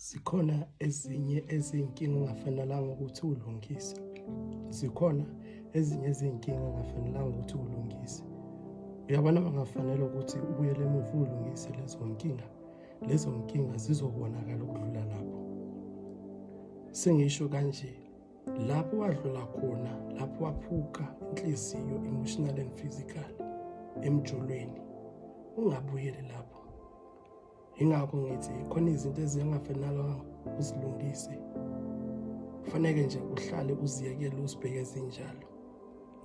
Zikhona ezinye ezinkinga ongafanelanga ukuthi ulungise. Zikhona ezinye ezinkinga ongafanelanga ukuthi ulungise. Uyabona bangafanele ukuthi ubuyele emuva ulungise lezo nkinga. Lezo nkinga zizobonakala ukudlula lapho. Sengisho kanje lapho wadlula khona lapho waphuka inhliziyo emotional and physical emjolweni ungabuyeli lapho yingakho ngithi khona izinto ezingafanelanga uzilungise kufaneke nje uhlale uziyekele uzibheke zinjalo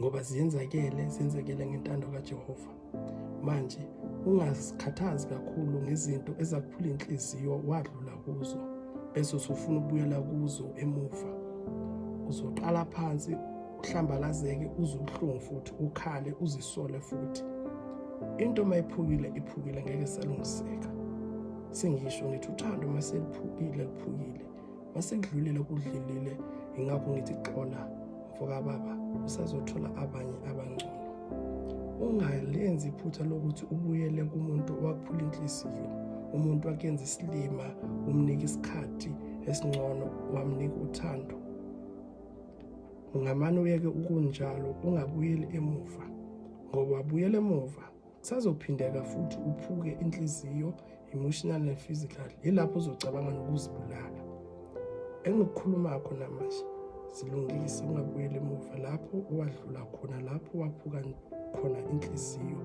ngoba ziyenzakele zenzekele ngentando kaJehova manje ungazikhathazi kakhulu ngezinto ezakuphula inhliziyo wadlula kuzo bese usufuna ukubuyela kuzo emuva uzoqala phansi uhlambalazeke uze ubuhlungu futhi ukhale uzisole futhi into uma iphukile iphukile ngeke salungiseka sengisho ngithi uthando uma seliphukile liphukile uma sekudlulile kudlulile ingakho ngithi xola mfokababa usazothola abanye abangcono ungalenzi iphutha lokuthi ubuyele kumuntu owaphula inhliziyo umuntu wakenza isilima umnika isikhathi esingcono wamnika uthando ungamane uyeke ukunjalo ungabuyeli emuva ngoba wabuyela emuva kusazophindeka futhi uphuke inhliziyo emotional and physical yilapho uzocabanga nokuzibulala engikukhuluma kho namanje zilungise ungabuyeli emuva lapho owadlula khona lapho waphuka khona inhliziyo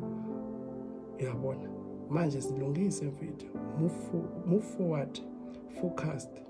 uyabona manje zilungise mfethu move forward focused